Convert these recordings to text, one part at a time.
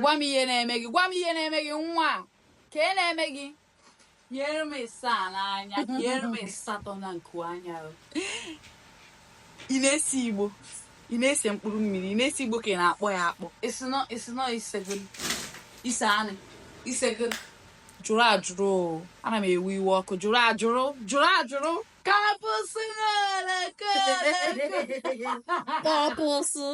gwa m ihe na-eme gị gwa m ihe na-eme gị nwa ka e na-eme gị nyere m ịsaa n'anya nyere m ịsatọ na nku anya ị na-ese igbo ị na-ese mkpụrụ mmiri ị na-ese igbo ka ị na-akpọ ya akpọ ise anị isego jụrụ ajụrụ ana m ewe iwe ọkụ jụrụ ajụrụ jụrụ ajụrụ kapụsụ kapụsụ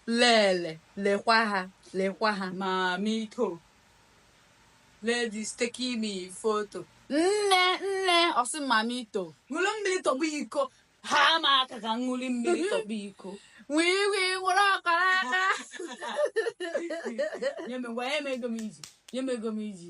lele lekwa ha lekwa ha mamito ladies taking me photo nne nne ọsị mamito ṅụrụ mmiri tọgbọ iko ha ma aka ka ṅụrụ mmiri tọgbọ iko wii wii ṅụrụ ọkara aka nye m ngwa nye m ego m iji nye m ego m iji